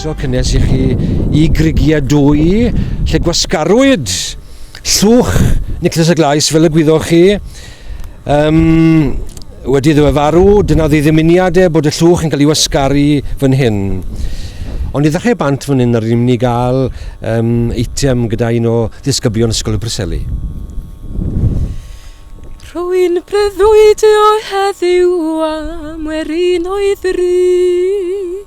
croeso cynnes i chi i grigia dwy lle gwasgarwyd llwch Nicholas y Glais fel y gwyddoch chi Yym, wedi iddo fe farw, dyna oedd ei ddymuniad e, bod y llwch yn cael ei wasgaru fan hyn. Ond i ddechrau bant fan hyn, yr ni'n mynd i gael um, eitem gyda un o ddisgyblion Ysgol y Preseli. Rwy'n breuddwydio heddiw am werin o'i ddrud.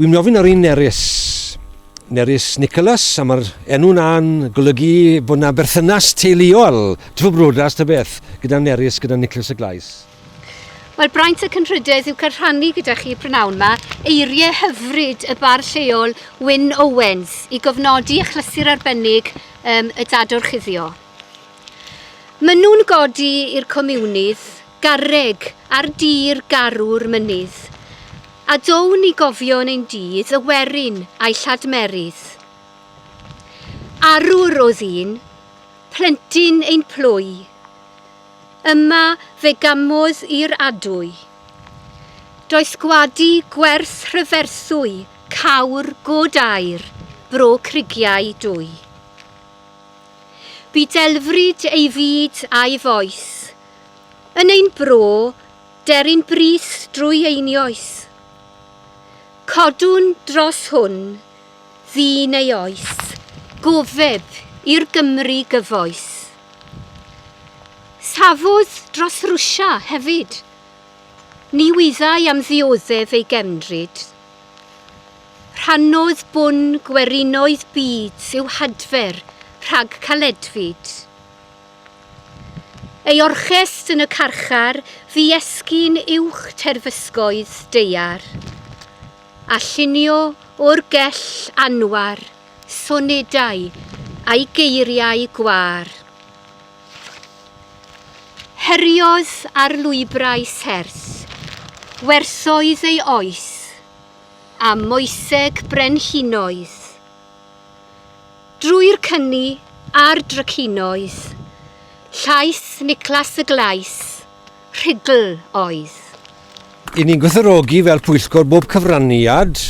Wi'n mynd i ofyn ar un Nerys. Nerys Nicholas, a mae'r enw na'n golygu bod yna berthynas teuluol, trwy brodas ta beth, gyda Nerys, gyda Nicholas y Glais. Wel, braint y cynrhydedd yw cael rhannu gyda chi prynawn yma eiriau hyfryd y bar lleol Wyn Owens i gofnodi achlysur arbennig um, y dadwr chuddio. Maen nhw'n godi i'r comiwnydd garreg ar dir garw'r mynydd, a down ni gofio yn ein dydd y werin a'i lladmerydd. Arwr o ddyn, plentyn ein plwy, yma fe gamodd i'r adwy. Doeth gwadu gwerth rhyferthwy cawr god aur, bro crigiau dwy. Bu delfryd ei fyd a'i fois. Yn ein bro, deryn brys drwy einioes. Codwn dros hwn, ddu neu oes, gofeb i'r Gymru gyfoes. Safodd dros Rwsia, hefyd. Ni wyddai am ddioddef ei gefndryd. Rhannodd bun gwerinoedd byd i'w hadfer rhag caledfyd. Ei orchest yn y carchar fu esgyn uwch terfysgoedd daear, a llunio o'r gell anwar sonedau a'i geiriau gwâr. Heriodd ar lwybrau serth, werthoedd ei oes, a moeseg brenhinoedd. Drwy'r cyni a'r drycinoedd, llais Niclas y Glais, rhugl oedd. I ni'n gwerthfawrogi fel pwyllgor bob cyfraniad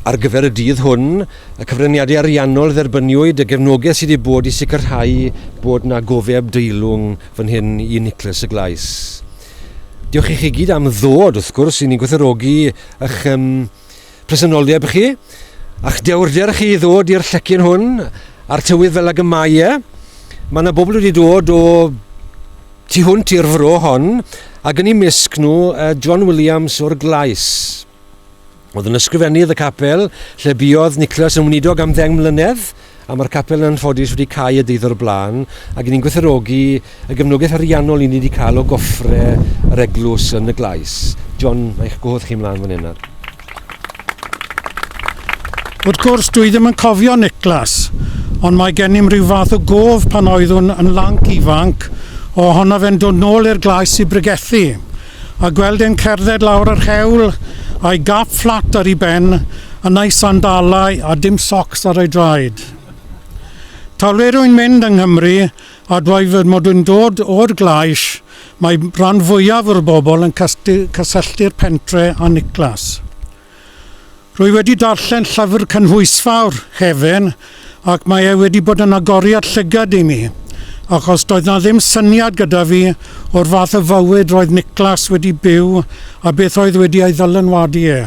ar gyfer y dydd hwn, y cyfraniadau ariannol dderbyniwyd, y gefnogaeth sydd wedi bod i sicrhau bod 'na gofeb deilwng fan hyn i Nicholas y Glais. Diolch i chi gyd am ddod, wrth gwrs, i ni'n gwerthfawrogi eich presenoldeb chi, a'ch dewrder chi i ddod i'r llecyn hwn a'r tywydd fel ag y mae e. Mae yna bobl wedi dod o tu hwnt i'r fro hon, a gynnu misg nhw John Williams o'r Glais. Oedd yn ysgrifennydd y capel lle buodd Nicholas yn weinidog am ddeng mlynedd, A mae'r capel yn anffodus wedi cau a deuddo o'r blaen, ac 'yn ni'n gwerthfawrogi y gefnogaeth ariannol 'yn ni wedi cael o goffre yr eglws yn y Glais. John, mae eich gwahodd chi ymlaen fan hyn nawr. Wrth gwrs, dwi ddim yn cofio Niklas, ond mae gennym rhyw fath o gof pan oeddwn yn lanc ifanc ohono fe'n dod nôl i'r Glais i bregethu. A gweld e'n cerdded lawr yr hewl a'i gap fflat ar ei ben, yn a'i sandalau a dim socs ar ei draed. Talwir wy'n mynd yng Nghymru, a dweud fy mod yn dod o'r Glais, mae rhan fwyaf o'r bobl yn cysylltu'r pentre â Niclas. Rwy wedi darllen llyfr cynhwysfawr Heaven ac mae e wedi bod yn agoriad llygad i mi, achos doedd 'na ddim syniad gyda fi o'r fath o fywyd roedd Niklas wedi byw a beth oedd wedi ei ddylanwadu e.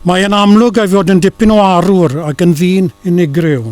Mae e'n amlwg ei fod yn dipyn o arwr ac yn ddyn unigryw.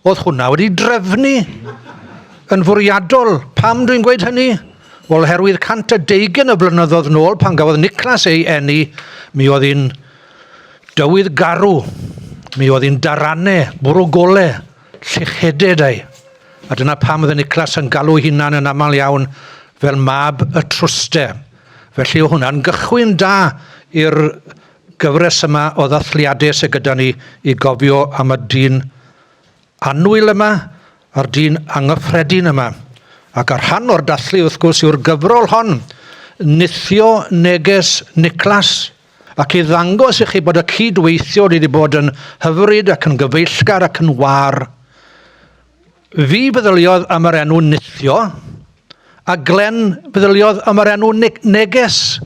Oedd hwnna wedi drefnu yn fwriadol. Pam dwi'n gweud hynny? Wel, oherwydd 120 o flynyddoedd nôl, pan gafodd Niclas ei eni, mi oedd hi'n dywydd garw. Mi oedd hi'n darane, bwrw gole, llycheded ei. A dyna pam oedd Niclas yn galw hunan yn aml iawn fel mab y trwste. Felly o hwnna'n gychwyn da i'r gyfres yma o ddathliadau sydd gyda ni i gofio am y dyn annwyl yma, a'r dyn angyffredin yma. Ac a rhan o'r dathlu, wrth gwrs, yw'r gyfrol hon, Nithio Neges Niclas, ac i ddangos i chi bod y cydweithiwr wedi bod yn hyfryd ac yn gyfeillgar ac yn war. Fi feddyliodd am yr enw Nithio, a Glen feddyliodd am yr enw ne Neges.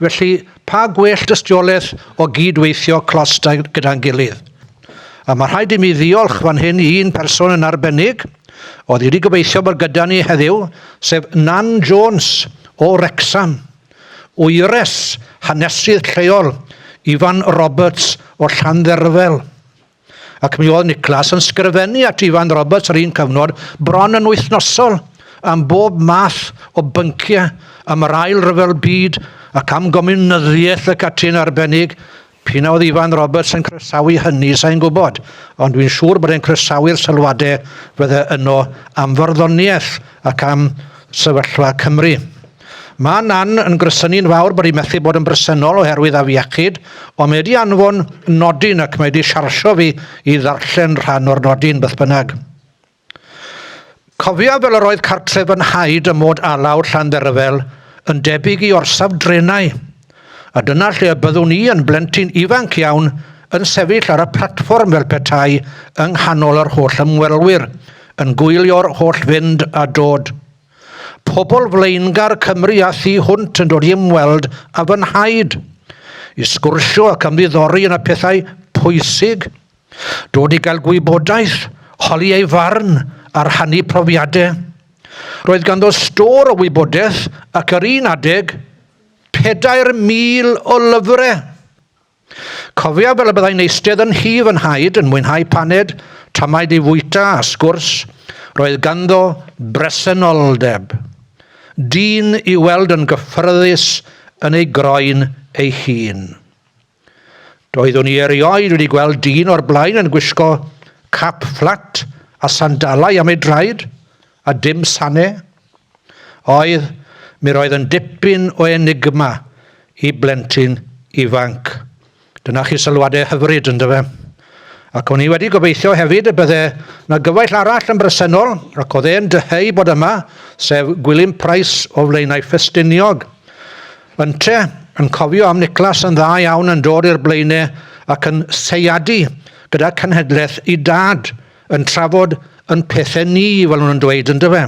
Felly, pa gwell dystiolaeth o gyd-weithio clos gyda'n gilydd. A mae rhaid i mi ddiolch fan hyn i un person yn arbennig, oedd wedi gobeithio bod gyda ni heddiw, sef Nan Jones o Wrecsam. Wyres, hanesydd lleol, Ifan Roberts o Llandderfel. Ac mi oedd Niclas yn sgrifennu at Ifan Roberts yr un cyfnod, bron yn wythnosol, am bob math o bynciau, am yr ail ryfel byd, ac am gomiwnyddiaeth y catyn arbennig. P'un a oedd Ifan Roberts yn croesawu hynny, sain gwybod, ond dwi'n siŵr bod e'n croesawu'r sylwadau fydde yno am farddoniaeth ac am sefyllfa Cymru. Mae Nan yn gresynu'n fawr bod hi methu bod yn bresennol oherwydd afiechyd, ond mae wedi anfon nodyn ac mae wedi siarsio fi i ddarllen rhan o'r nodyn, beth bynnag. Cofiaf fel yr oedd cartref fy nhaid ym mod alaw Llandderfel yn debyg i orsaf drenau, a dyna lle y byddwn i yn blentyn ifanc iawn yn sefyll ar y platfform fel petai yng nghanol yr holl ymwelwyr, yn gwylio'r holl fynd a dod. Pobl flaengar Cymru a thu hwnt yn dod i ymweld â fy nhaid, i sgwrsio ac ymddiddori yn y pethau pwysig, dod i gael gwybodaeth, holi ei farn a rhannu profiadau. Roedd ganddo stôr o wybodaeth ac ar un adeg, 4,000 o lyfrau! Cofiaf fel y byddai'n eistedd yn nhŷ fy nhaid yn mwynhau paned, tamaid i fwyta a sgwrs, roedd ganddo bresenoldeb. Dyn i'w weld yn gyffyrddus yn ei groen ei hun. Doeddwn i erioed wedi gweld dyn o'r blaen yn gwisgo cap fflat a sandalau am ei draed, A dim Sane? Oedd, mi roedd yn dipyn o enigma i blentyn ifanc. Dyna chi sylwadau hyfryd, ynddo fe? Ac o'n i wedi gobeithio hefyd y bydde na gyfaill arall yn bresennol, ac oedd e'n dyheu bod yma, sef Gwilym Price o Flaenau Ffestiniog. Ynte, yn cofio am Niclas yn dda iawn yn dod i'r Blaenau ac yn seiadu gyda cenhedlaeth i dad, yn trafod yn pethe ni, fel nhw'n dweud, yn dyfe?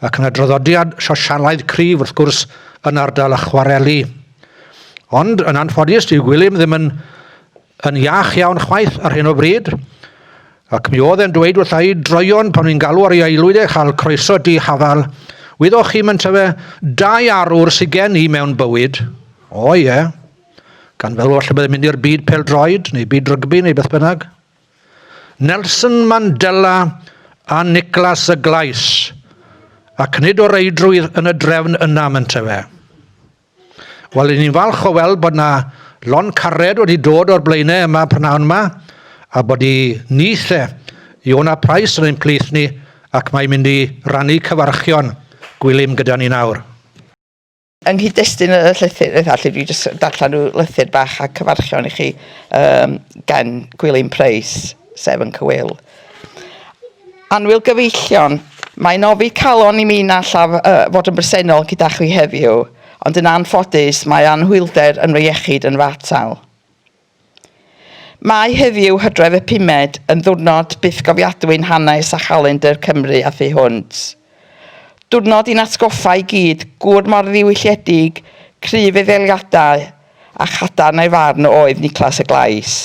Ac yn y draddodiad sosialaidd cryf, wrth gwrs, yn ardal y chwareli. Ond, yn anffodus, dyw Gwilym ddim yn, yn iach iawn chwaith ar hyn o bryd, ac mi oedd e'n dweud wrtha i droion pan fi'n galw ar ei aelwyd e chael croeso di hafal, wyddoch chi mae'n tyfe, dau arwr sydd gen i mewn bywyd. O ie. Gan fel falle byddai'n mynd i'r byd pel-droed, neu byd rygbi, neu beth bynnag. Nelson Mandela a Nicholas y Glais, ac nid o reidrwydd yn y drefn yna, mente fe. Wel, i ni'n falch o weld bod yna lon cared wedi dod o'r blaenau yma prynawn yma, a bod i nith e, Iona Price yn ein plith ni, ac mae'n mynd i rannu cyfarchion gwylym gyda ni nawr. Yng nghyd-destun y llythyr eitha lle dwi jyst darllen rhyw lythyr bach a cyfarchion i chi um, gen Gwilym Price, sef yn Cywyl. Anwyl gyfeillion, mae'n ofi calon i mi na allaf uh, fod yn bresennol gyda chi heddiw, ond yn anffodus mae anhwylder yn fy iechyd yn fatal. Mae heddiw, Hydref y pumed, yn ddiwrnod bythgofiadwy'n hanes a chalendr Cymru a thu hwnt. Diwrnod i'n atgoffa i gyd gŵr mor ddiwylliedig, cryf ei ddeliadau, a chadarn ei farn a oedd Niclas y Glais.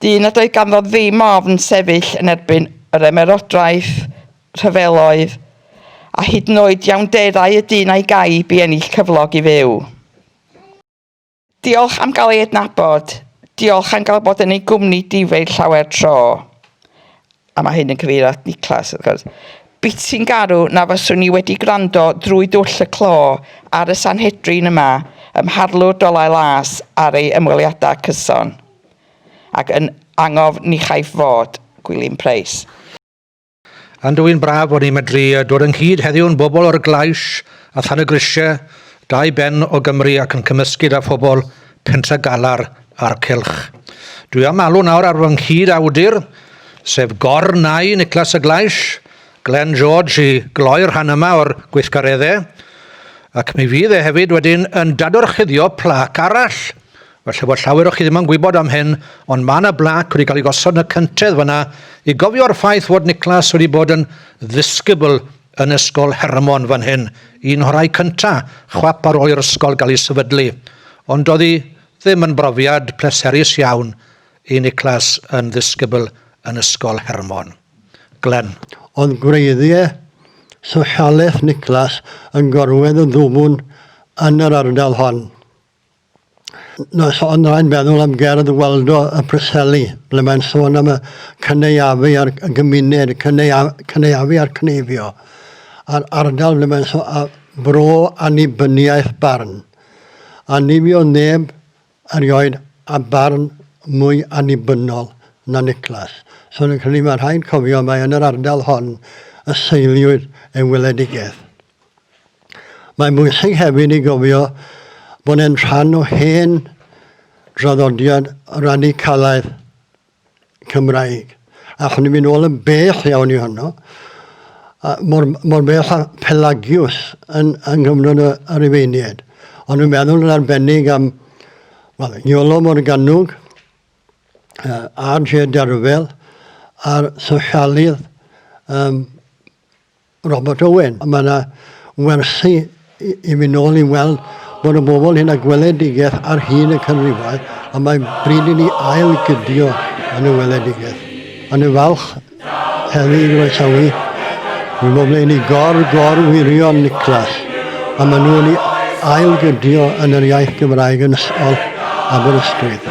Dyn nad oedd ganddo ddim ofn sefyll yn erbyn yr ymerodraeth, rhyfeloedd, a hyd yn oed iawnderau y dyn a'i gaib i ennill cyflog i fyw. Diolch am gael ei adnabod. Diolch am gael bod yn ei gwmni difei llawer tro. A mae hyn yn cyfeirio at Niclas, wrth gwrs. Biti'n garw na fyswn i wedi gwrando drwy dwll y clo ar y Sanhedrin yma ym Mharlwr Dolau Las ar ei ymweliadau cyson. Ac yn angof ni chaiff fod, Gwilym Preis. Yn dwyn braf bod ni'n medru dod ynghyd heddiw'n bobl o'r Glais a Than y Grisiau, dau ben o Gymru ac yn cymysgu da phobl Pentre Galar a'r Cylch. Dwi am alw nawr ar fy nghyd awdur, sef Gor Nau Niclas y Glais, Glen George i gloi'r rhan yma o'r gweithgareddau, ac mi fydd e hefyd wedyn yn dadorchuddio plac arall Falle bod llawer o chi ddim yn gwybod am hyn, ond mae yna blac wedi cael ei gosod yn y cyntedd fanna i gofio'r ffaith fod Niclas wedi bod yn ddisgybl yn Ysgol Hermon fan hyn, un o'r rhai cynta, chwap ar ôl i'r ysgol gael ei sefydlu. Ond doedd hi ddim yn brofiad pleserus iawn i Niclas yn ddisgybl yn Ysgol Hermon. Glen. Oedd gwreiddiau sosialaeth Niclas yn gorwedd yn ddwfn yn yr ardal hon. Nos hon rhaid meddwl am gerdd Waldo y Preseli, ble mae'n sôn am y cynaeafu a'r gymuned, cynaeafu a'r cneifio, a'r ardal ble mae'n sôn am bro annibyniaeth barn. Annifio neb erioed a barn mwy annibynnol na Niclas. Sôn yn cynnig mae rhaid cofio mae yn yr ardal hon y seiliwyd ei weledigaeth. Mae'n bwysig hefyd i gofio bod e'n rhan o hen draddodiad radicalaidd Cymraeg. Allwn ni fynd ôl yn bell iawn i honno, mor, mor bell a Pelagius yn, yn gyfnod y, y Rifeiniaid. Ond dwi'n meddwl yn arbennig am wel, Iolo Morganwg, uh, R.J. Derfel a'r sosialydd um, Robert Owen. Mae yna wersi i fynd nôl i weld bod y bobl hyn a gweledigaeth ar hyd y canrifau a mae bryd i ni ail gydio yn y weledigaeth. Ond yn falch heddi i groesawu fy bobl yn ei gor gor wirion Niclas a maen nhw'n ei ail gydio yn yr iaith Gymraeg yn ysgol Aberystwyth.